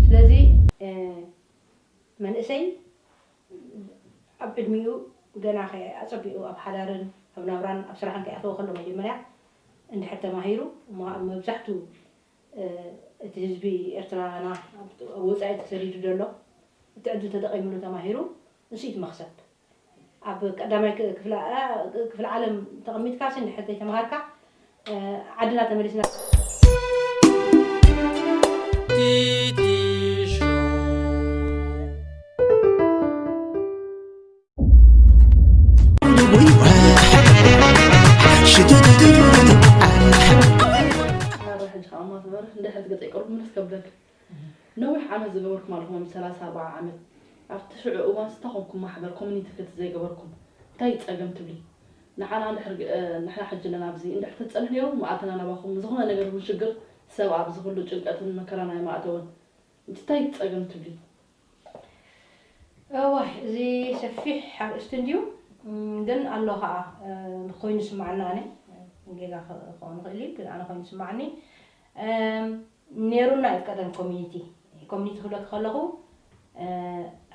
ስለዚ መንእሰይ ኣብ ዕድሚኡ ገና ከይ ኣጸቢቑ ኣብ ሓዳርን ኣብ ናብራን ኣብ ስራሕን ከይኣተወ ከሎ መጀመርያ እንድሕር ተማሂሩ እሞ ከኣ መብዛሕቱ እቲ ህዝቢ ኤርትራና ኣብ ወጻኢ ተሰዲዱ ዘሎ እቲ ዕድል ተጠቒምሉ ተማሂሩ ንሱ እዩ እቲ መኽሰብ። ኣብ ቀዳማይ ክፍለ ዓለም ተቐሚጥካሲ እንድሕር ዘይተማሃርካ ዓድና ተመሊስና እንድሕር ገፀይ ቅሩብ ምልስ ከብለካ ነዊሕ ዓመት ዝገበርኩም ኣለኹም ሰላሳ ኣርባዓ ዓመት ኣብቲ ሽዑ እዋን ስታ ኮንኩም ማሕበር ኮሚኒቲ ክልቲ ዘይገበርኩም እንታይ ጸገም ትብሊ ንዓና እንድሕር ንሕና ሕጂ ኣለና ኣብዚ እንድሕር ተትጸንሑ ኔሩ መኣተና ናባኹም ንዝኾነ ነገር ይኹን ሽግር ሰብ ኣብዚ ኩሉ ጭንቀትን መከራን ኣይምኣተወን እንት እንታይ ጸገም ትብሊ እዋይ እዚ ሰፊሕ ኣርእስቲ እንድዩ ግን ኣሎ ከኣ ኮይኑ ይስማዓና ኣነ ጌጋ ክኸውን ይኽእል እዩ ግን ኣነ ኮይኑ ይስማዓኒ ኔሩና እዩ ቀደም ኮሚኒቲ ኮሚኒቲ ክብለኪ ከለኹ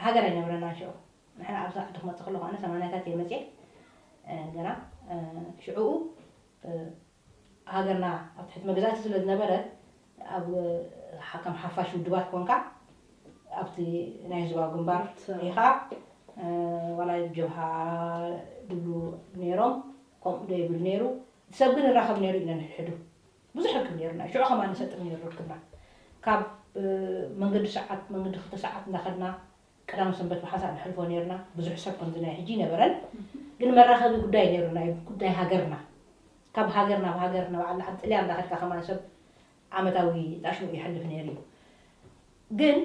ሃገር ኣይነበረናን ሽዑ ንሕና ኣብዚ ዓዲ ክመፅእ ከለኹ ኣነ ሰማንያታት እየ መፅየ ገና ሽዑኡ ሃገርና ኣብ ትሕቲ መግዛእቲ ስለ ዝነበረ ኣብ ከም ሓፋሽ ውድባት ኮንካ ኣብቲ ናይ ህዝባዊ ግንባር ኢኻ ዋላ ጀብሃ ድብሉ ነይሮም ከምኡ ዶ ይብል ነይሩ ሰብ ግን ይራኸብ ነይሩ እዩ ነንሕድሕዱ ብዙሕ ርክብ ነይሩና እዩ ሽዑ ከማን ንሰጥም እዩ ነይሩ ርክብና ካብ መንገዲ ሰዓት መንገዲ ክልተ ሰዓት እንዳኸድና ቀዳም ሰንበት ብሓንሳእ ንሕልፎ ነይርና ብዙሕ ሰብ ከምዚ ናይ ሕጂ ይነበረን ግን መራኸቢ ጉዳይ ነይሩና እዩ ጉዳይ ሃገርና ካብ ሃገር ናብ ሃገር ናብ ዓዲ ጥልያን እንዳኸድካ ከማን ሰብ ዓመታዊ ጣሽሙ ይሕልፍ ነይሩ እዩ ግን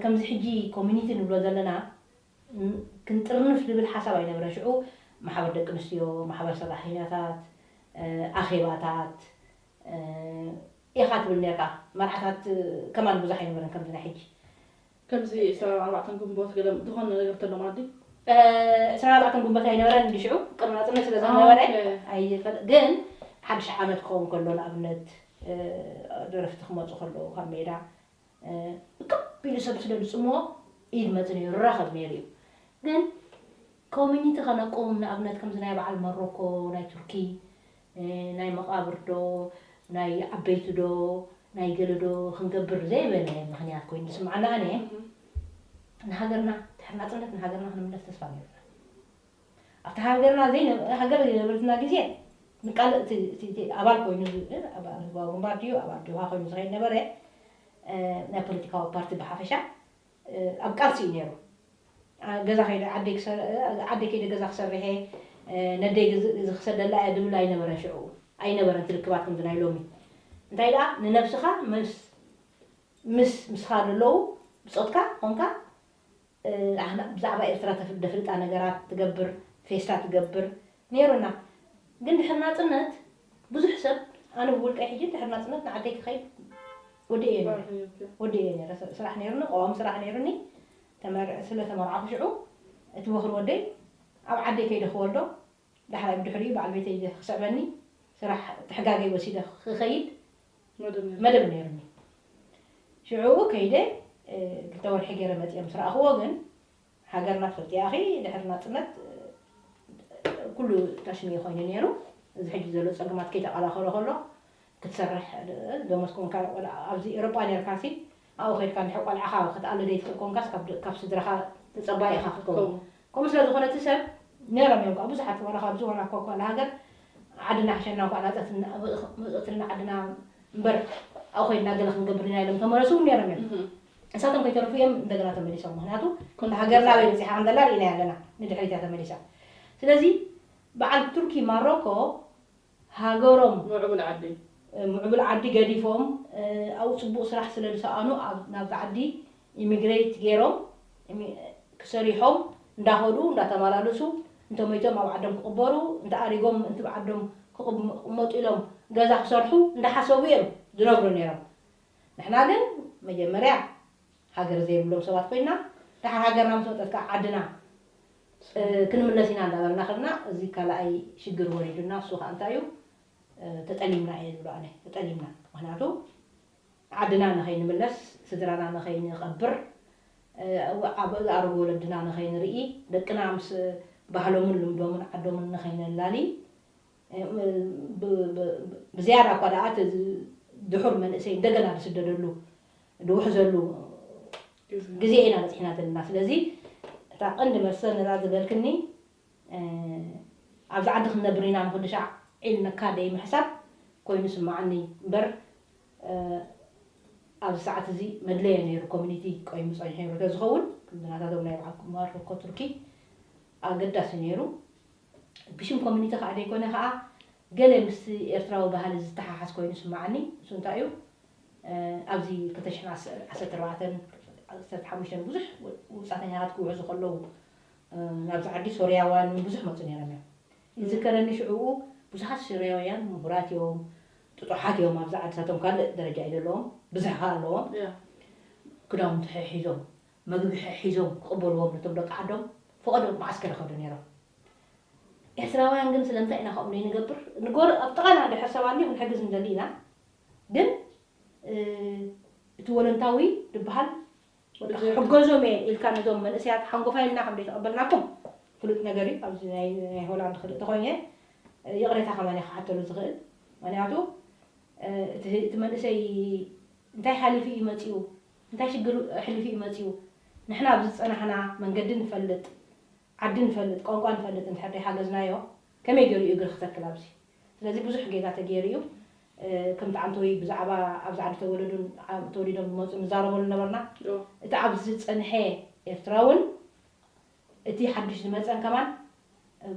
ከምዚ ሕጂ ኮሚኒቲ ንብሎ ዘለና ክንጥርንፍ ዝብል ሓሳብ ኣይነበረን ሽዑ ማሕበር ደቂ ኣንስትዮ ማሕበር ሰራሕተኛታት ኣኼባታት ኢኻ ትብል ኔርካ መርዓታት ከማን ብዙሕ ኣይነበረን ከምዚ ናይ ሕጂ ከምዚ ዕስራን ኣርባዕተን ግንቦት ገለ ዝኾነ ነገር እንተሎ ማዲ። ዕስራን ኣርባዕተን ግንቦት ኣይነበረን እንዲ ሽዑ ቅድሚ ናጽነት ስለ ዘይነበረ ኣይፈል ግን ሓድሽ ዓመት ክኸውን ከሎ ንኣብነት ደረፍቲ ክመጹ ከለዉ ካብ ሜዳ እቅብ ኢሉ ሰብ ስለ ዝጽምዎ ኢድ መጽን እዩ ራኸብ ነይሩ እዩ ግን ኮሚኒቲ ከነቁም ንኣብነት ከምዚ ናይ በዓል መሮኮ ናይ ቱርኪ ናይ መቃብር ዶ ናይ ዓበይቲ ዶ ናይ ገለ ዶ ክንገብር ዘይበለ ምክንያት ኮይኑ ስምዓና ኣነ ንሃገርና ድሕሪ ናጽነት ንሃገርና ክንምለስ ተስፋ ነይሩና ኣብቲ ሃገርና ዘይነበረ ሃገር ዘይነበረትና ግዜ ንቃል እቲ ኣባል ኮይኑ ኣባል ህዝባዊ ግንባር ድዩ ኣባል ጆብሃ ኮይኑ ዝኸይድ ነበረ ናይ ፖለቲካዊ ፓርቲ ብሓፈሻ ኣብ ቃልሲ እዩ ነይሩ። ገዛ ከይደ ዓደይ ክሰር ዓደይ ከይደ ገዛ ክሰርሕ እየ ነደይ ግዝ ክሰደላ እየ ድብል ኣይነበረን ሽዑ ኣይነበረን ትርክባት ከምዚ ናይ ሎሚ እንታይ ደኣ ንነብስኻ ምስ ምስ ምስኻ ዘለዉ ብጾትካ ኮንካ ኣህና ብዛዕባ ኤርትራ ተፍ ደፍልጣ ነገራት ትገብር ፌስታ ትገብር ኔሩና ግን ድሕሪ ናጽነት ብዙሕ ሰብ ኣነ ብውልቀይ ሕጂ ድሕሪ ናጽነት ንዓደይ ክኸይድ ወዲኤዮ ኔረ ስራሕ ኔርኪ። ወዲኤዮ ኔረ ስ- ስራሕ ኔሩኒ ቀዋሚ ስራሕ ኔሩኒ ተመር ስለ ተመርዓኹ ሽዑ እቲ ወኽሪ ወደይ ኣብ ዓደይ ከይደ ክወልዶ ዳሕራይ ብድሕሪኡ በዓል ቤተይ ዘ ክስዕበኒ ስራሕ ትሕጋገይ ወሲደ ክኸይድ መደብ ነይሩኒ። ሽዑ ከይደ ክልተ ወርሒ ገይረ መፂኤ ምስ ረኣኹዎ ግን ሃገርና ትፈልጥያ ኢኺ ድሕሪ ናፅነት ኩሉ ታሽንየ ኮይኑ ነይሩ። እዚ ሕጂ ዘሎ ፀገማት ከይተቐላኸሎ ከሎ ክትሰርሕ ደሞዝካ እውን ካብዚ ኤውሮጳ ነይርካሲ ኣብኡ ከድካ ድሕሪ ቆልዓኻ ክትኣሉ ዘይትኽእል ኮንካስ ካብ ስድራኻ ተጸባይ ኢኻ ክትከውን ከምኡ ስለ ዝኾነ እቲ ሰብ ነሮም እዮም ከኣ ብዙሓት ዋላ ካብዚ ዋላ እኳ ካልእ ሃገር ዓድና ይሕሸና እንኳዕ መጸእትልና ዓድና እምበር ኣብኡ ከድና ገለ ክንገብር ኢና ኢሎም ተመለሱ እውን ነሮም እዮም ንሳቶም ከይተረፉ እዮም እንደገና ተመሊሶም ምክንያቱ ሃገርና ኣበይ በጺሓ ከም ዘላ ርኢናያ ኣለና ንድሕሪት እያ ተመሊሳ ስለዚ በዓል ቱርኪ ማሮኮ ሃገሮም ምዕቡል ዓዲ ምዕቡል ዓዲ ገዲፎም ኣብኡ ጽቡቅ ስራሕ ስለ ዝሰኣኑ ኣብ ናብቲ ዓዲ ኢሚግረይት ጌሮም ሰሪሖም እንዳኸዱ እንዳተማላለሱ እንተ ሞይቶም ኣብ ዓዶም ክቅበሩ እንተ ኣሪጎም እንትብ ዓዶም ክቅመጡ ኢሎም ገዛ ክሰርሑ እንዳሓሰቡ እዮም ዝነብሩ ኔሮም ንሕና ግን መጀመርያ ሃገር ዘይብሎም ሰባት ኮይና ደሓር ሃገርና ምስ መጸት ከኣ ዓድና ክንምለስ ኢና እንዳበልና ከድና እዚ ካላኣይ ሽግር ወሪዱና እሱ ከኣ እንታይ እዩ ተጠሊምና እየ ዝብሎ ኣነ ተጠሊምና ምክንያቱ ዓድና ንኸይንምለስ ስድራና ንኸይንቐብር ኣብ ዝኣረጉ ወለድና ንኸይንርኢ ደቅና ምስ ባህሎምን ልምዶምን ዓዶምን ንኸይነላሊ ብዝያዳ እኳ ደኣ እቲ ድሑር መንእሰይ እንደገና ዝስደደሉ ዝውሕዘሉ ግዜ ኢና በፂሕና ዘለና ስለዚ እታ ቀንዲ መልሰ ነዛ ዝበልክኒ ኣብዚ ዓዲ ክንነብር ኢና ንክድሻዕ ኢልንካ ደይምሕሳብ ኮይኑ ይስመዓኒ እምበር ኣብዚ ሰዓት እዚ መድለየ ነይሩ ኮሚኒቲ ቆይሙ ፀኒሑ ነይሩ ተዝኸውን ከምዚ ናታቶም ናይ በዓል ኩማር ኮኮ ቱርኪ ኣገዳሲ ነይሩ ብሽም ኮሚኒቲ ከኣ ዘይኮነ ከኣ ገለ ምስቲ ኤርትራዊ ባህሊ ዝተሓሓዝ ኮይኑ ይስመዓኒ እሱ እንታይ እዩ ኣብዚ ክልተ ሽሕን ዓሰርተ ኣርባዕተን ዓሰርተ ሓሙሽተን ብዙሕ ውጻተኛታት ክውሕዙ ከለዉ ናብዚ ዓዲ ሶርያዋን ውን ብዙሕ መጹ ነይሮም እዮም ይዝከረኒ ሽዑኡ ብዙሓት ሶርያውያን ምሁራት እዮም ጥጡሓት እዮም ኣብዚ ዓድታቶም ካልእ ደረጃ እዩ ዘለዎም ብዝሕ ከኣ ኣለዎም ክዳውንቲ ሕሒዞም መግቢ ሒዞም ክቕበልዎም ነቶም ደቂ ዓዶም ፈቐዶም መዓስከር ይኸዱ ነይሮም። ኤርትራውያን ግን ስለምንታይ ኢና ከምኡ ዘይንገብር? ንጎረ ኣብ ጥቓና ድሕር ሰብ ኣልዩ ክንሕግዝ ንደሊ ኢና ግን እቲ ወለንታዊ ድበሃል በቃ ክሕገዞም እየ ኢልካ ነዞም መንእሰያት ሓንጎፋይ ኢልና ከም ዘይተቐበልናኩም ፍሉጥ ነገር እዩ። ኣብዚ ናይ ናይ ሆላንድ ክርኢ ተኾይነ ይቕሬታ ከማን እየ ክሓተሉ ዝኽእል ምክንያቱ እቲ እቲ መንእሰይ እንታይ ሓሊፉ እዩ መጺኡ እንታይ ሽግር ኣሕሊፉ እዩ መጺኡ ንሕና ኣብዚ ዝጸናሕና መንገዲ ንፈልጥ ዓዲ ንፈልጥ ቋንቋ ንፈልጥ እንድሕር ደይሓገዝናዮ ከመይ ጌሩ እዩ እግሪ ክተክል ኣብዚ ስለዚ ብዙሕ ጌጋ ተጌሩ እዩ ከምቲ ዓንተወይ ብዛዕባ ኣብዚ ዓዲ ተወለዱን ተወሊዶም ዝመጹን ንዛረበሉ ነበርና እቲ ኣብዚ ዝጸንሐ ኤርትራውን እቲ ሓዱሽ ዝመጸን ከማን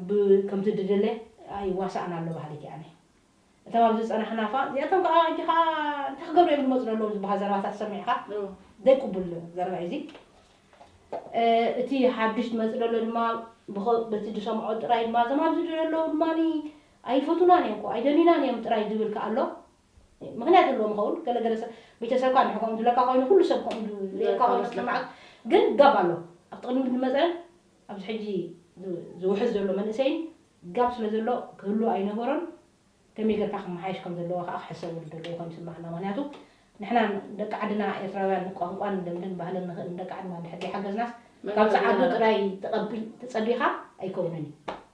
ብ ከምቲ ድደለ ኣይዋሳእን ኣሎ በሃሊት እየ ኣነ። እቶም ኣብዚ ዝጸናሕና እዃ እዚኣቶም ከኣ ሕጂ ከኣ እንታይ ክገብሩ እዮም ዝመጹ ዘለዉ ዝበሃል ዘረባታት ሰሚዕካ ዘይቅቡል ዘረባ እዩ እዚ። እቲ ሓዱሽ ዝመጽእ ዘሎ ድማ ብኸ በቲ ዝሰምዖ ጥራይ ድማ እዞም ኣብዚ ዘለዉ ድማ ኣይፈትዉናን እዮም እኮ ኣይደልዩናን እዮም ጥራይ ዝብል ከኣ ኣሎ። ምክንያት ኣለዎም ይከውን ገለ ገለ ሰብ ቤተሰብካ እንድሕር ከምኡ ዝብለካ ኮይኑ ኩሉ ሰብ ከምኡ ዝብለካ ኮይኑ ክስምዓካ ግን ጋብ ኣሎ ኣብቲ ቅድሚት ዝመጸን ኣብዚ ሕጂ ዝውሕዝ ዘሎ መንእሰይን ጋብ ስለ ዘሎ ክህሉ ኣይነበሮን ከመይ ገርካ ክመሓየሽ ከም ዘለዎ ከኣ ክሕሰበሉ ዘለዎ ኮይኑ ይስምዓና ምክንያቱ ንሕና ደቂ ዓድና ኤርትራውያን ቋንቋን ልምድን ባህልን ንክእል ንደቂ ዓድና እንድሕር ዘይሓገዝናስ ካብ ጸዓዱ ጥራይ ትጸቢኻ ኣይከውንን እዩ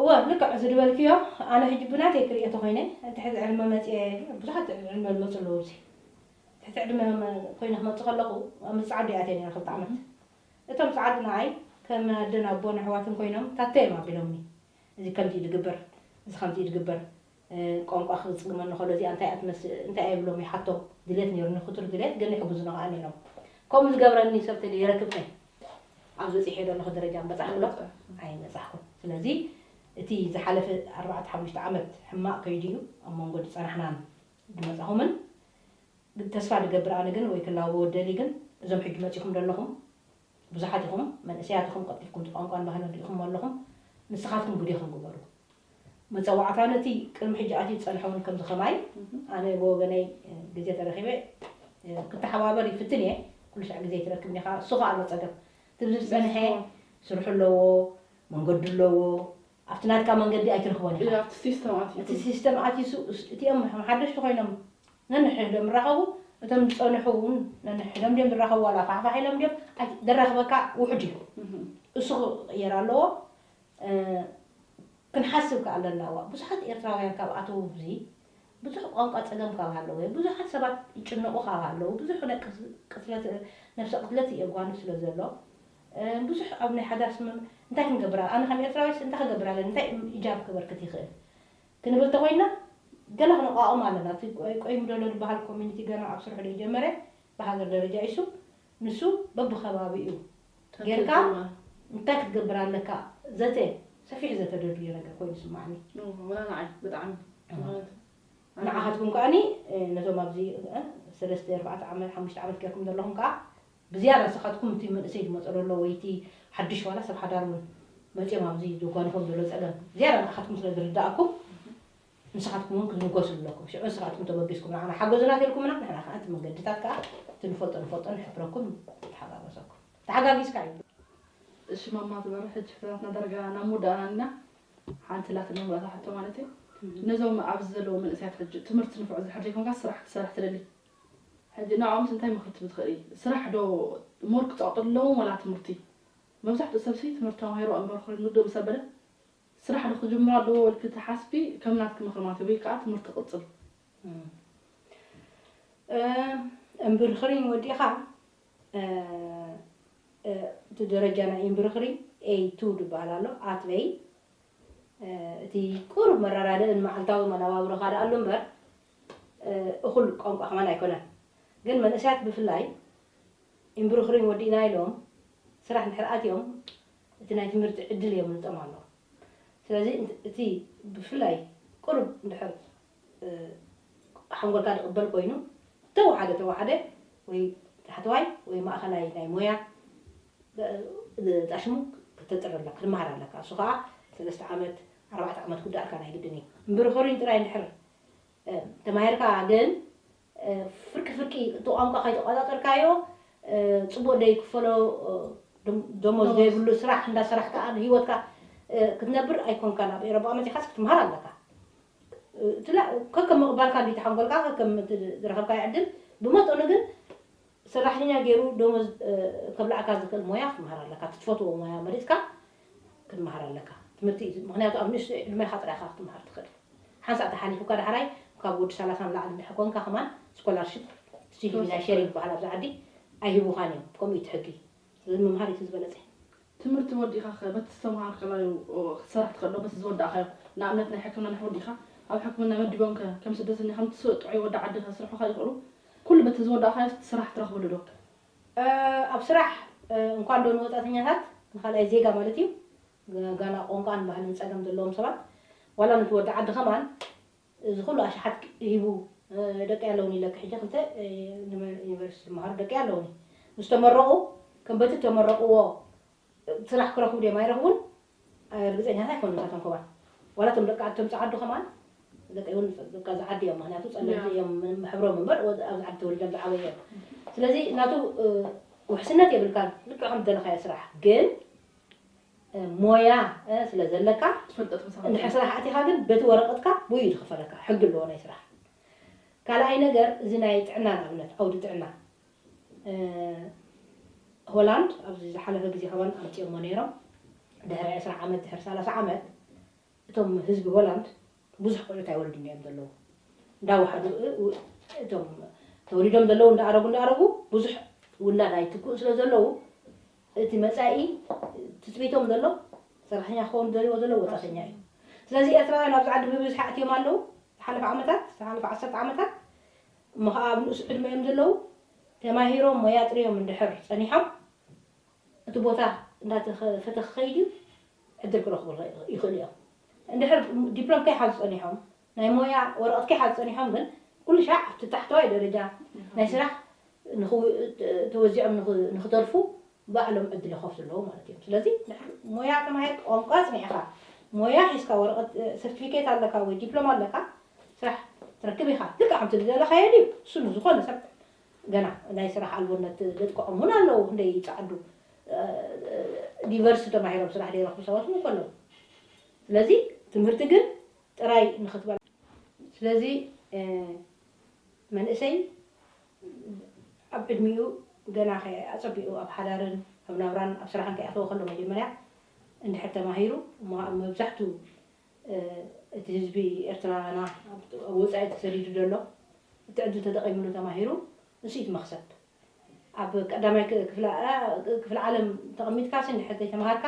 እወ ልክዕ እዚ ድበልክዮ ኣነ ህጂ ብናተይ ክሪኦ ተኮይነ ትሕቲ ዕድመ መጽየ ብዙሓት ትሕቲ ዕድመ ልመጹ ኣለዉ እዚ ትሕቲ ዕድመ ኮይነ ክመጽ ከለኩ ምስ ጻዓዱ እየ ኣትየ ነይረ ክልተ ዓመት እቶም ጻዓዱ ንዓይ ከም ኣደን ኣቦን ኣሕዋትን ኮይኖም ታተዮም ኣቢሎምኒ እዚ ከምዚ እዩ ድግበር እዚ ከምዚ እዩ ድግበር ቋንቋ ክጽግመኒ ከሎ እዚኣ እንታይ እያ ትመስል እንታይ እየ እብሎም ይሓቶም ድሌት ኔሩኒ ክቱር ድሌት ግን ይሕግዙና ከኣ ኔሮም ከምኡ ዝገብረኒ ሰብ ተልዩ የረክብከ ኣብዚ በጺሐዮ ዘለኹ ደረጃ ምበጻሕኩ ዶ ኣይበጻሕኩን ስለዚ እቲ ዝሓለፈ ኣርባዕተ ሓሙሽተ ዓመት ሕማቕ ከይዱ እዩ ኣብ መንጎ ድጸናሕናን ድመጻኹምን ተስፋ ድገብር ኣነ ግን ወይ ክላበዎ እደሊ ግን እዞም ሕጂ መጺኹም ደለኹም ብዙሓት ኢኹም መንእሰያት ኢኹም ቀልጢፍኩም እቲ ቋንቋን ባህልን ሪኢኹሞ ኣለኹም ንስኻትኩም ግዴኹም ግበሩ መጸዋዕታ ነቲ ቅድሚ ሕጂ ኣትዩ ዝጸንሐ ውን ከምዚ ከማይ ኣነ ብወገነይ ግዜ ተረኺበ ክተሓባበር ይፍትን እየ ኩሉ ሳዕ ግዜ ኣይትረክብን ኢኻ እሱ ኸኣ ኣሎ ጸገም እቲ ዝጸንሐ ስርሑ ኣለዎ መንገዱ ኣለዎ ኣብቲ ናትካ መንገዲ ኣይትረኽቦን ኢኻ እቲ ሲስተም ኣትዩ እቲ ሲስተም ኣትዩ እቲኦም ሓደሽቲ ኮይኖም ነንሕድሕዶም ይራኸቡ እቶም ዝጸንሑ እውን ነንሕድሕዶም ድዮም ዝራኸቡ ዋላ ፋሕፋሕ ኢሎም ድዮም ኣይ- ዘራኽበካ ውሑድ እዩ እሱ ክቕየር ኣለዎ እ፣ ክንሓስብ ከኣ ኣለና ዋእ ብዙሓት ኤርትራውያን ካብ ኣተዉ ኣብዚ ብዙሕ ቋንቋ ጸገም ካብ ሃለወ ብዙሓት ሰባት ይጭነቑ ካብ ሃለዉ ብዙሕ ናይ ቅስ- ቅትለት እ፣ ነብሰ ቅትለት የጓኑ ስለ ዘሎ እ፣ ብዙሕ ኣብ ናይ ሓዳር ስምምዕ እንታይ ክንገብር ኣነ ከም ኤርትራዊስ እንታይ ክገብር ኣለኒ እንታይ እጃም ከበርክት ይኽእል ክንብል ተኾይንና ገለ ክንቛቖም ኣለና። እቲ ቆይምዶሎ ዝበሃል ኮሚኒቲ ገና ኣብ ስርሑ ዘይጀመረ ብሃገር ደረጃ ኢሱ ንሱ በብኸባቢኡ ጌርካ እንታይ ክትገብር ኣለካ ዘተ ሰፊሕ ዘተ ዶ ድዩ ነገር ኮይኑ ይስመዓኒ። ወላ ንዓይ ብጣዕሚ ምኽንያቱ ንዓኻትኩም ከኣ ነቶም ኣብዚ ሰለስተ ኣርባዕተ ዓመት ሓሙሽተ ዓመት ጌርኩም ዘለኹም ከኣ ብዝያዳ ንስኻትኩም እቲ መንእሰይ ዝመጾ ዘሎ ወይ እቲ ሓድሽ ዋላ ሰብ ሓዳር ውን መጽዮም ኣብዚ ዘጓንፎም ዘሎ ጸገም ዝያዳ ንኣኻትኩም ስለ ዝርድኣኩም ንስኻትኩም ውን ክትምጎሱ ኣለኩም ሽዑ ንስኻትኩም ተበጊስኩም ንዓና ሓገዙና ተልኩምና ንሕና ከኣ እቲ መንገድታት ከኣ እቲ ንፈልጦ ንፈልጦ ንሕብረኩም ንተሓጋገዘኩም ተሓጋጊዝካ እዩ እሺ ማማ ዝበሮ ሕጂ ሕቶታትና ዳርጋ ናብ ምውዳእና ኣኒና ሓንቲ ኣላትኒ መወዳእታ ሕቶ ማለት እዩ ነዞም ኣብዚ ዘለዉ መንእሰያት ሕጂ ትምህርቲ ንፉዕ ዝድሕር ዘይኮንካ ስራሕ ክትሰርሕ ትደሊ ሕጂ ንዕኦምስ እንታይ መኽርቲ ትኽእሊ ስራሕ ዶ ሞር ክጸቅጡ ኣለዎም ወላ ትምህርቲ መብዛሕትኡ ሰብሲ ትምህርቲ ተማሂሩ ኣንበር ኮይኑ ንግዶ ምስ ኣበለ ስራሕ ዶ ክጅምሩ ኣለዎ ወልኪ ትሓስቢ ከም ናትኪ ምኽሪ ማለት ወይ ከኣ ትምህርቲ ክቅጽል እምብርኽሪኝ ወዲእኻ እቲ ደረጃ ናይ እምብርኽሪኝ ኤይ ቱ ድበሃል ኣሎ ኣትበይ እቲ ቁሩብ መረዳድእን መዓልታዊ መነባብሮኻ ደኣሉ እምበር እኹል ቋንቋ ከማን ኣይኮነን ግን መንእሰያት ብፍላይ ኢምብሩኽሪም ወዲእና ኢሎም ስራሕ እንድሕር ኣትዮም እቲ ናይ ትምህርቲ ዕድል የምልጦም ኣሎ ስለዚ እቲ ብፍላይ ቁሩብ እንድሕር ሓንጎልካ ድቕበል ኮይኑ ተወሓደ ተወሓደ ወይ ታሕተዋይ ወይ ማእኸላይ ናይ ሞያ ጣሽሙ ክተጥሪ ኣለካ ክትመሃር ኣለካ እሱ ከኣ ሰለስተ ዓመት ኣርባዕተ ዓመት ክውዳኣልካ ናይ ግድን እዩ ኢምብሩኽሪም ጥራይ እንድሕር ተማሂርካ ግን ፍርቂ ፍርቂ እቲ ቋንቋ ከይተቆጻጸርካዮ ጽቡቅ ዘይክፈሎ ደሞዝ ዘይብሉ ስራሕ እንዳ ሰራሕካ ንሂወትካ ክትነብር ኣይኮንካን ኣብ ኤሮጳ መጺኻስ ክትምሃር ኣለካ ከከም ምቅባልካ እንድዩ እቲ ሓንጎልካ ከከም እቲ ዝረኸብካዮ ዕድል ብመጠኑ ግን ሰራሕተኛ ጌሩ ደሞዝ ከብላዕካ ዝኽእል ሞያ ክትመሃር ኣለካ እቲ ትፈትዎ ሞያ መሪጽካ ክትመሃር ኣለካ ትምህርቲ እዩ ምኽንያቱ ኣብ ንእሽቶ ዕድሜኻ ጥራይ ኢኻ ክትመሃር ትኽእል ሓንሳእ ተሓሊፉካ ዳሕራይ ካብ ወዲ ሰላሳ ንላዕሊ እንድሕር ኮንካ ከማን ስኮላርሺፕ ትሽሂቢ ናይ ሼሪንግ ይበሃል ኣብዚ ዓዲ ኣይህቡኻን እዮም ከምኡ እዩ እቲ ሕጊ ስለዚ ምምሃር እዩ እቲ ዝበለጸ። ትምህርቲ ወዲእካ'ኸ በቲ ዝተመሃርካላዩ ክትሰርሕ ትኽእልዶ በቲ ዝወዳእካዮ? ንኣብነት ናይ ሕክምና ንሕ ወዲእካ ኣብ ሕክምና መዲቦምከ ከም ስደተኛ ከም እትስ ጥዑይ ወዲ ዓዲ ከስርሑኻ ይኽእሉ? ኩሉ በቲ ዝወዳእካዮስ ስራሕ ትረኽብሉዶ? ኣብ ስራሕ እንኳንዶ ንወጻእተኛታት ንካልኣይ ዜጋ ማለት'ዩ ጋል ቋንቋን ባህልን ጸገም ዘለዎም ሰባት ዋላ ነቲ ወዲ ዓዲ ከማን እዚ ኩሉ ኣሽሓት ሂቡ ደቀይ ኣለዉኒ ኢለኪ ሕጂ ክልተ ዩኒቨርሲቲ ዝመሃሩ ደቀይ ኣለዉኒ ምስ ተመረቁ ከም በቲ እተመረቅዎ ስራሕ ክረክቡ ድዮም ኣይረክቡን ርግጸኛታት ኣይኮኑን እታ ተንኮባ ዋላ እቶም ደቂ ኣቶም ጸዓዱ ከማን ደቀይ እውን በቃ ዝዓዲ እዮም ምክንያቱ ጸለምቲ እዮም ሕብሮም እምበር ኣብዚ ዓዲ ተወሊዶም ዝዓበዩ እዮም ስለዚ ናቱ ውሕስነት የብልካን ልክዕ ከም ዝደለካዮ ስራሕ ግን ሞያ ስለ ዘለካ ትፈልጦ ትመስል እንድሕር ከምዘሎ ስራሕ ኣቲኻ ግን በቲ ወረቐትካ ብኡ እዩ ዝኽፈለካ ሕጊ ኣለዎ ናይ ስራሕ ካልኣይ ነገር እዚ ናይ ጥዕና ንኣብነት ዓውዲ ጥዕና እ ሆላንድ ኣብዚ ዝሓለፈ ግዜ ከማን ኣምጺኦሞ ኔሮም ድሕሪ ዕስራ ዓመት ድሕሪ ሰላሳ ዓመት እቶም ህዝቢ ሆላንድ ብዙሕ ቆልዑት ኣይወልዱን እዮም ዘለዉ እንዳ ዋሕዱ እቶም ተወሊዶም ዘለዉ እንዳ ኣረጉ እንዳ ኣረጉ ብዙሕ ውላድ ኣይትክኡን ስለ ዘለዉ እቲ መጻኢ ትጽቢቶም ዘሎ ሰራሕተኛ ክኸውን ዝደልይዎ ዘለዉ ወጻእተኛ እዩ ስለዚ ኤርትራውያን ኣብዚ ዓዲ ብብዝሒ ኣእትዮም ኣለዉ ዝሓለፈ ዓመታት ዝሓለፈ ዓሰርተ ዓመታት እሞ ከዓ ኣብ ንኡስ ዕድመ እዮም ዘለዉ ተማሂሮም ሞያ ጥርዮም እንድሕር ጸኒሖም እቲ ቦታ እንዳተፈተ ክኸይድ እዩ ዕድል ክረኽቡ ይኽእሉ እዮም። እንድሕር ዲፕሎም ከይሓዙ ጸኒሖም፣ ናይ ሞያ ወረቐት ከይሓዙ ጸኒሖም ግን ኩሉሻዕ ኣብቲ ታሕተዋይ ደረጃ ናይ ስራሕ ተወዚዖም ንኽተርፉ ባዕሎም ዕድል ይኸፍቱ ኣለዉ ማለት እዮም። ስለዚ እንድሕር ሞያ ተማሂርካ፣ ቋንቋ ኣጽኒዕካ፣ ሞያ ሒዝካ፣ ወረቐት ሰርቲፊኬት ኣለካ ወይ ዲፕሎም ኣለካ ስራሕ ትረክብ ኢኻ። ልክዕ ከምቲ ዝደለኻዮ ድዩ? እሱ ንዝኾነ ሰብ ገና ናይ ስራሕ ኣልቦነት ዘጥቅዖም ውን ኣለዉ ክንደይ ይጸዓዱ ዲቨርሲቲ ተማሂሮም ስራሕ ዘይረኽቡ ሰባት ውን እኮ ኣለዉ ስለዚ ትምህርቲ ግን ጥራይ ንክትበል ስለዚ መንእሰይ ኣብ ዕድሚኡ ገና ከይ ኣጸቢቑ ኣብ ሓዳርን ኣብ ናብራን ኣብ ስራሕን ከይኣተወ ከሎ መጀመርያ እንድሕር ተማሂሩ እሞ ኣብ መብዛሕቱ እቲ ህዝቢ ኤርትራና ኣብ ወጻኢ ተሰዲዱ ዘሎ እቲ ዕድል ተጠቒምሉ ተማሂሩ ንሱ እዩ እቲ መኽሰብ። ኣብ ቀዳማይ ክፍለ ዓለም ተቐሚጥካሲ እንድሕር ዘይተማሃርካ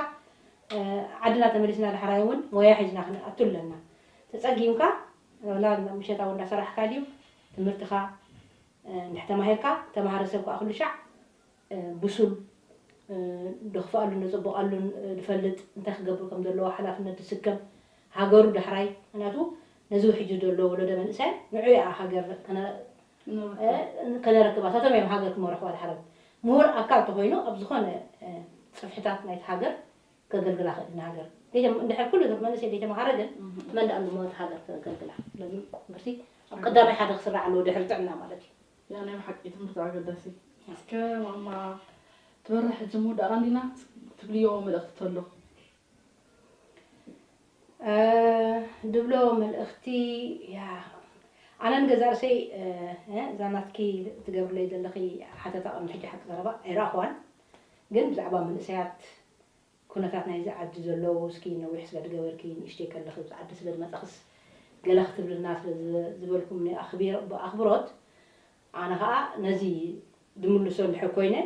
ዓድና ተመሊስና ዳሕራይ እውን ሞያ ሒዝና ክንኣቱ ኣለና። ተጸጊምካ ዋላ ምሸት ኣብ እንዳሰራሕካ ድዩ ትምህርትኻ እንድሕር ተማሂርካ ተማሃሪ ሰብ ከኣ ኩሉሻዕ ብሱል፣ ደኽፍኣሉን ደጸብቓሉን ድፈልጥ፣ እንታይ ክገብር ከም ዘለዎ ሓላፍነት ድስከም፣ ሃገሩ ዳሕራይ፣ ምኽንያቱ ነዚ ውሕጂ ዘሎ ወለዶ መንእሰያት ንዑ ኢያ ሃገር ከነረክባ፣ ንሳቶም ኢዮም ሃገር ክመርሕዋ ድሓሮም። ምሁር ኣካል ተኾይኑ ኣብ ዝኾነ ጽፍሕታት ናይቲ ሃገር ከገልግላ ክእል፣ ንሃገር እንድሕር ኩሉ መንእሰይ ደይተመሃረ ግን መን ድኣ ንሞት ሃገር ከገልግላ፣ ስለዚ ዩኒቨርሲቲ ኣብ ቀዳማይ ሓደ ክስራዕ ኣለዎ ድሕሪ ጥዕና ማለት ኢዩ። ያ ናይ ብሓቂ ትምህርቲ ኣገዳሲ እስከ ማማ ትበርሕ ሕጂ ምውዳእና እንዲና ትብልዮ መልእኽቲ ተሎ ድብሎ መልእኽቲ ያ ኣነ ንገዛ ርእሰይ እዛ ናትኪ ትገብርለይ ዘለኺ ሓተታ ቅድሚ ሕጂ ሓቂ ዘረባ ኣይረኣኹዋን ግን ብዛዕባ መንእሰያት ኩነታት ናይዚ ዓዲ ዘሎ እስኪ ነዊሕ ስለ ድገበርኪ ንእሽተይ ከለኺ ኣብዚ ዓዲ ስለ ድመጻኽስ ገለ ክትብልና ስለ ዝበልኩምኒ ብኣኽብሮት ኣነ ከኣ ነዚ ድምልሶ እንድሕር ኮይነ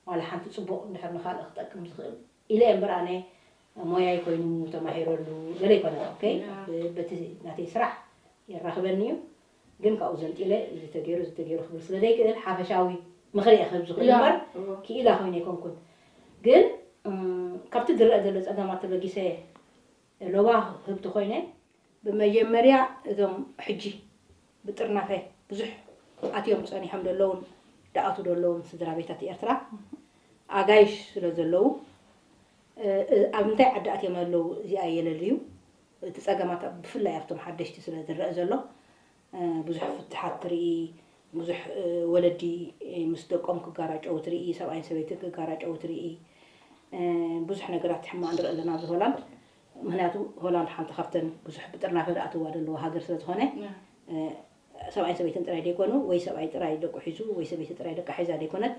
ዋላ ሓንቲ ጽቡቕ እንድሕር ንኻልእ ክጠቅም ዝኽእል ኢለ እየ እምበር ኣነ ሞያይ ኮይኑ ተማሂረሉ ገለ ኣይኮነን ኦኬ በቲ ናተይ ስራሕ የራኽበኒ እዩ ግን ካብኡ ዘንጢለ እዚ ተገይሩ እዚ ተገይሩ ክብል ስለ ዘይክእል ሓፈሻዊ ምኽሪ እየ ክህብ ዝኽእል እምበር ክኢላ ኮይነ ኣይኮንኩን። ግን ካብቲ ዝረኣ ዘሎ ጸገማት ተበጊሰ ሎባ ክህብ ተኾይነ፣ ብመጀመርያ እዞም ሕጂ ብጥርናፈ ብዙሕ ኣትዮም ጸኒሖም ዘለዉን ድኣትዉ ዘለዉን ስድራቤታት ኤርትራ ኣጋይሽ ስለ ዘለዉ ኣብ እንታይ ዓዲ ኣትዮም ኣለዉ እዚኣ የለልዩ እቲ ጸገማት ኣብ ብፍላይ ኣብቶም ሓደሽቲ ስለ ዝረኣ ዘሎ ብዙሕ ፍትሓት ትርኢ ብዙሕ ወለዲ ምስ ደቆም ክጋራጨዉ ትርኢ ሰብኣይን ሰበይትን ክጋራጨዉ ትርኢ ብዙሕ ነገራት ሕማቅ ንርኢ ኣለና ኣብዚ ሆላንድ ምክንያቱ ሆላንድ ሓንቲ ካብተን ብዙሕ ብጥርናፈ ዝኣትዋ ዘለዋ ሃገር ስለ ዝኮነ ሰብኣይን ሰበይትን ጥራይ ደይኮኑ ወይ ሰብኣይ ጥራይ ደቁ ሒዙ ወይ ሰበይቲ ጥራይ ደቃ ሒዛ ደይኮነት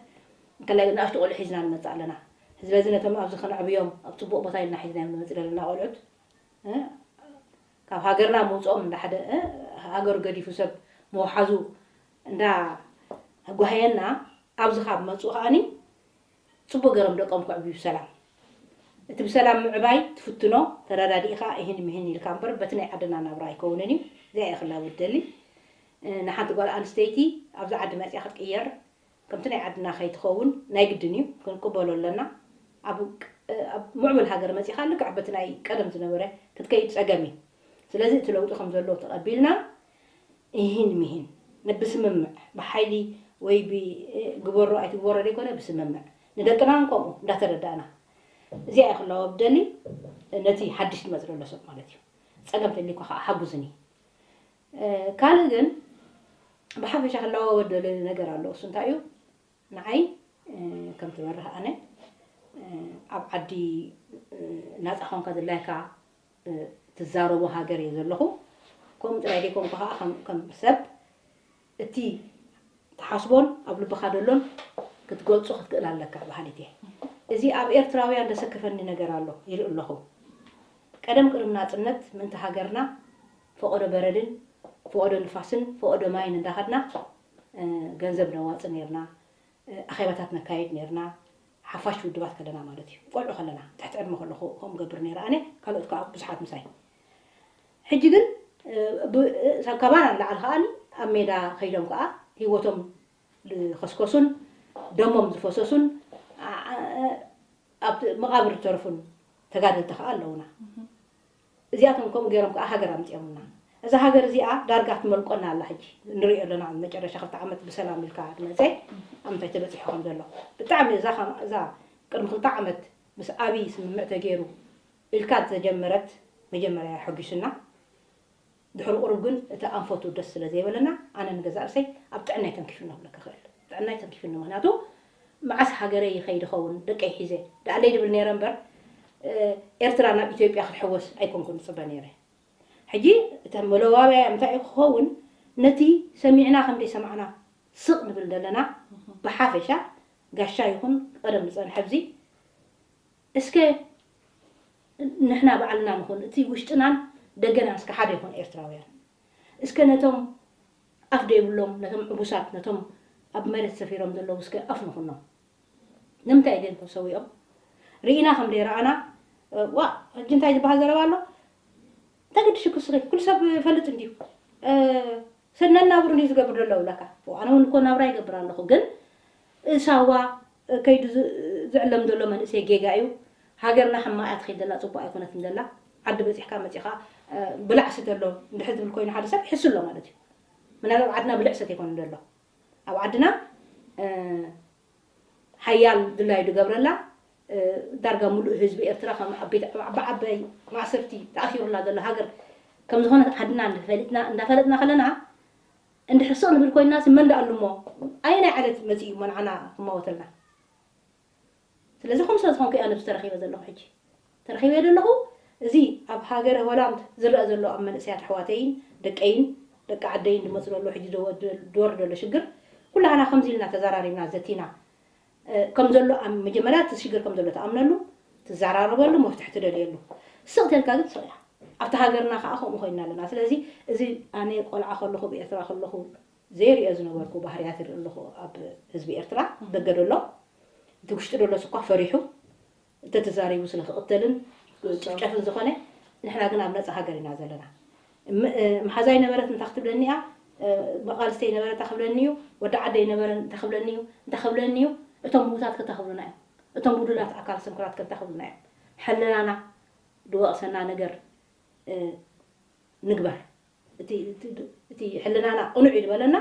እንተላይ ንኣሽቱ ቆልዑ ሒዝና ንመጽእ ኣለና ስለዚ ነቶም ኣብዚ ከነዕብዮም ኣብ ጽቡቅ ቦታ ኢልና ሒዝናዮም ንመጽእ ዘለና ቆልዑት ካብ ሃገርና ምውጽኦም እንዳ ሓደ ሃገሩ ገዲፉ ሰብ ምውሓዙ እንዳ ኣጓህየና ኣብዚ ካብ መጹ ከኣኒ ጽቡቅ ገሮም ደቆም ከዕብዩ ብሰላም እቲ ብሰላም ምዕባይ ትፍትኖ ተረዳዲእካ እሂን ምሂን ኢልካ እምበር በቲ ናይ ዓድና ናብራ ኣይከውንን እዩ እዚኣ እየ ክላቦ ዝደሊ ንሓንቲ ጓል ኣንስተይቲ ኣብዚ ዓዲ መጽያ ክትቅየር ከምቲ ናይ ዓድና ከይትኸውን ናይ ግድን እዩ ክንቅበሎ ኣለና ኣብ ኣብ ሙዕቡል ሃገር መጺኻ ልክዕ በቲ ናይ ቀደም ዝነበረ ክትከይድ ጸገም እዩ ስለዚ እቲ ለውጢ ከም ዘሎ ተቀቢልና ኢሂን ሚሂን ብስምምዕ ብሓይሊ ወይ ብ ግበሮ ኣይትግበሮ ዘይኮነ ብስምምዕ ንደቅና ውን ከምኡ እንዳተረዳእና እዚኣ እየ ክላወብ ደሊ ነቲ ሓድሽ ዝመጽእ ዘሎ ሰብ ማለት እዩ ጸገም ተልዩካ ከኣ ሓጉዝኒ ካልእ ግን ብሓፈሻ ክለዋወጥ ደልዮ ነገር ኣሎ እሱ እንታይ እዩ ንዓይ ከም ትበርህ ኣነ ኣብ ዓዲ ናፃ ኮንካ ዝላይካ ትዛረቦ ሃገር እየ ዘለኹ ከምኡ ጥራይ ዘይኮንኩ ከዓ ከም ሰብ እቲ ትሓስቦን ኣብ ልብኻ ደሎን ክትገልፁ ክትክእል ኣለካ በሃሊት እየ እዚ ኣብ ኤርትራውያን ዘሰክፈኒ ነገር ኣሎ ይርኢ ኣለኹ ቀደም ቅድሚ ናፅነት ምእንቲ ሃገርና ፈቐዶ በረድን ፈቐዶ ንፋስን ፈቐዶ ማይን እንዳኸድና ገንዘብ ነዋጽእ ኔርና፣ ኣኼባታት ነካይድ ኔርና፣ ሓፋሽ ውድባት ከለና ማለት እዩ። ቆልዑ ከለና፣ ትሕቲ ዕድመ ከለኹ ከምኡ እገብር ኔረ ኣነ፣ ካልኦት ከኣ ብዙሓት ምሳይ። ሕጂ ግን ካባና ንላዕሊ ከኣ ኣብ ሜዳ ከይዶም ከኣ ህይወቶም ዝኸስከሱን ደሞም ዝፈሰሱን ኣብ መቓብር ዝተረፉን ተጋደልቲ ከኣ ኣለዉና። እዚኣቶም ከምኡ ገይሮም ከኣ ሃገር ኣምጺኦምልና። እዛ ሃገር እዚኣ ዳርጋ ትመልቆና ኣላ ሕጂ ንርእዮ ኣሎና ኣብ መጨረሻ ክልተ ዓመት ብሰላም ኢልካ ድመጸ ኣብ ምንታይ ተበጺሑ ከም ዘሎ ብጣዕሚ እዛ ከም እዛ ቅድሚ ክልተ ዓመት ምስ ኣብይ ስምምዕ ተገይሩ ኢልካ ዝተጀመረት መጀመርያ ኣያ ሐጒሱና ድሕሪ ቁሩብ ግን እቲ ኣንፈቱ ደስ ስለ ዘይበለና ኣነ ንገዛእ ርእሰይ ኣብ ጥዕናይ ተንኪፉኒ ክብለካ እኽእል። ጥዕናይ ተንኪፉኒ ምኽንያቱ መዓስ ሃገረይ ይኸይድ እኸውን ደቀይ ሒዘ ደኣለይ ድብል ነይረ እምበር ኤርትራ ናብ ኢትዮጵያ ክትሕወስ ኣይኮንኩን ዝጽበ ነይረ። ሕጂ እቲ መለዋብያያ እንታይ እዩ ክኸውን ነቲ ሰሚዕና ከም ዘይሰማዕና ስቕ ንብል ዘለና ብሓፈሻ ጋሻ ይኹን ቀደም ዝጸንሐ ኣብዚ እስከ ንሕና ባዕልና ንኹን እቲ ውሽጥናን ደገናን እስከ ሓደ ይኹን ኤርትራውያን እስከ ነቶም ኣፍ ደይብሎም ነቶም ዕጉሳት ነቶም ኣብ መሬት ሰፊሮም ዘለዉ እስከ ኣፍ ንኹኖም ንምንታይ ግን ተሰዊኦም ሪኢና ከም ደይረኣና ዋእ ሕጂ እንታይ ዝበሃል ዘረባ ኣሎ እንታይ ገድሽኩ እስኺ ኩሉ ሰብ ይፈልጥ እንድዩ ሰብ ነናብሩ እንድዩ ዝገብር ዘሎ እብለካ ፎእ ኣነ ውን እኮ ናብራ ይገብር ኣለኩ ግን ሳዋ ከይዱ ዝዕለም ዘሎ መንእሰይ ጌጋ እዩ ሃገርና ሕማቅ እያ ትከይድ ዘላ ጽቡቅ ኣይኮነትን ዘላ ዓዲ በጺሕካ መጺካ ብላዕ ስተ ኣሎ እንድሕር ዝብል ኮይኑ ሓደ ሰብ ይሕሱ ኣሎ ማለት እዩ ምናልባት ኣብ ዓድና ብልዕ ሰተ ኣይኮነን ዘሎ ኣብ ዓድና ሓያል ድላዩ ድገብረላ ዳርጋ ሙሉእ ህዝቢ ኤርትራ ከም ዓባይ ማእሰርቲ ተኣሲሩላ ዘሎ ሃገር ከም ዝኾነት ዓድና ፈሊጥና እንዳፈለጥና ከለና እንድሕር ስቕ ንብል ኮይንናሲ መን ደኣሉ እሞ ኣየናይ ዓሌት መጺኡ እሞ ንዓና ክመወተልና ስለዚ ከምኡ ስለ ዝኾንኩ እያ ነብሲ ተረኺበ ዘለኹ ሕጂ ተረኺበ ዘለኹ እዚ ኣብ ሃገረ ሆላንድ ዝረኣ ዘሎ ኣብ መንእሰያት ኣሕዋተይን ደቀይን ደቂ ዓደይን ዝመጽእ ዘሎ ሕጂ ዝወርድ ዘሎ ሽግር ኩላህና ከምዚ ኢልና ተዛራሪብና ዘቲና ከም ዘሎ መጀመርያ እቲ ሽግር ከም ዘሎ ትኣምነሉ ትዛራረበሉ መፍትሒ ትደልየሉ ስቕ ተልካ ግን ስቕ ኢያ ኣብቲ ሃገርና ከኣ ከምኡ ኮይና ኣለና ስለዚ እዚ ኣነ ቆልዓ ከለኹ ኣብ ኤርትራ ከለኹ ዘይሪኦ ዝነበርኩ ባህርያት ይርኢ ኣለኹ ኣብ ህዝቢ ኤርትራ ደገ ደሎ እቲ ውሽጢ ደሎስ እኳ ፈሪሑ እንተተዛሪቡ ስለ ክቕተልን ክጭፍጨፍን ዝኾነ ንሕና ግን ኣብ ነጻ ሃገር ኢና ዘለና እም መሓዛይ ነበረት እንታ ክትብለኒ እያ መቓልስተይ ነበረ እንታ ክብለኒ እዩ ወዲ ዓደይ ነበረ እንታ ክብለኒ እዩ እንታ ክብለኒ እዩ እቶም ምዉታት ከ እንታ ክብሉና እዮም እቶም ጉዱላት ኣካል ስንኩላት ከ እንታ ክብሉና እዮም ሕልናና ድወቕሰና ነገር ንግበር እቲ እቲ ሕልናና ቅኑዕ እዩ ድበለና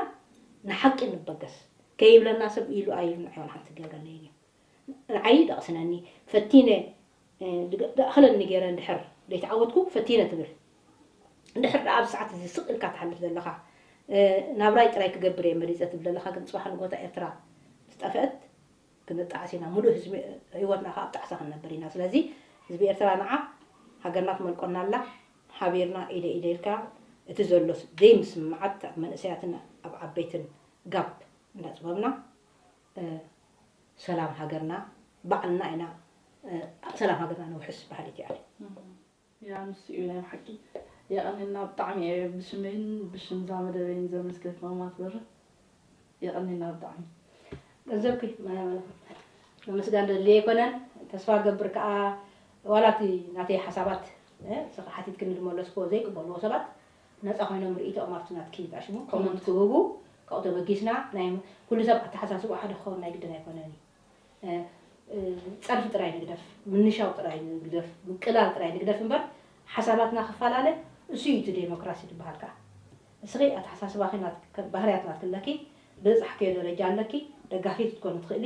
ንሓቂ ንበገስ ከይብለና ሰብ ኢሉ ኣይልምዐ ዋላ ሓንቲ ክገብረለይን እዩ ርኣዪ ደቕስነኒ ፈቲነ ደኣኽለኒ ገይረ እንድሕር ደይተዓወትኩ ፈቲነ ትብል እንድሕር ደኣ ኣብዚ ሰዓት እዚ ስቕ ኢልካ ትሓልፍ ዘለኻ ናብራይ ጥራይ ክገብር እየ መሪጸ ትብል ዘለኻ ግን ጽባሕ ንጎታ ኤርትራ ምስ ጠፍእት ክንጣዓስ ኢና ምሉእ ህዝቢ ህይወትና ከኣ ኣብ ጣዕሳ ክንነብር ኢና ስለዚ ህዝቢ ኤርትራ ንዓ ሃገርና ትመልቆና ኣላ ሓቢርና ኢደይ ኢደይ ኢልካ እቲ ዘሎ ዘይምስምማዓት ኣብ መንእሰያትን ኣብ ዓበይትን ጋብ እንዳጽበብና ሰላም ሃገርና ባዕልና ኢና ኣብ ሰላም ሃገርና ነውሕስ በሃሊት እየ ኣነ። ያ ንሱ እዩ ናይ ብሓቂ የቀኔልና ብጣዕሚ እየ ብሽመይን ብሽም ዛመደበይን ዘመስግን ማማት በርህ የቀኔልና ብጣዕሚ ገንዘብኪ ምምስጋን ደልየ ኣይኮነን ተስፋ ገብር ከዓ ዋላ እቲ ናተይ ሓሳባት ሓቲትክኒ ዝመለስክዎ ዘይቅበልዎ ሰባት ነጻ ኮይኖም ርእይቶኦም ኣብቲ ናትኪ ዝኣሽሙ ኮመንት ክህቡ ካብኡ ተበጊስና ናይ ኩሉ ሰብ ኣተሓሳስብኡ ሓደ ክኸውን ናይ ግድን ኣይኮነን እዩ ጸርፊ ጥራይ ንግደፍ ምንሻው ጥራይ ንግደፍ ምቅላል ጥራይ ንግደፍ እምበር ሓሳባትና ክፈላለ እሱ እዩ እቲ ዴሞክራሲ ዝበሃል ከኣ እስኺ ኣተሓሳስባኺ ባህርያት ናትኪ ኣለኪ ብዝጻሕክዮ ደረጃ ኣለኪ ደጋፊት ክትኮኒ ትኽእሊ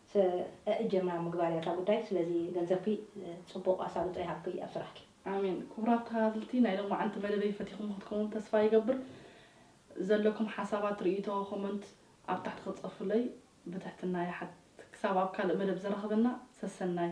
ሰእእ ጀምራ ምግባር እያ እታ ጉዳይ ስለዚ ገንዘብኪ ጽቡቅ ኣሳልጦ ይሃብኪ ኣብ ስራሕኪ። ኣሜን ክቡራት ተከታተልቲ ናይ ሎማዓንቲ መደበይ ፈቲኹሞ ክትከውን ተስፋ ይገብር ዘለኩም ሓሳባት ርእይቶ ኮሞንት ኣብ ታሕቲ ክትጽፉለይ ብትሕትና ይሓትት ክሳብ ኣብ ካልእ መደብ ዘራኽበና ሰሰናዩ።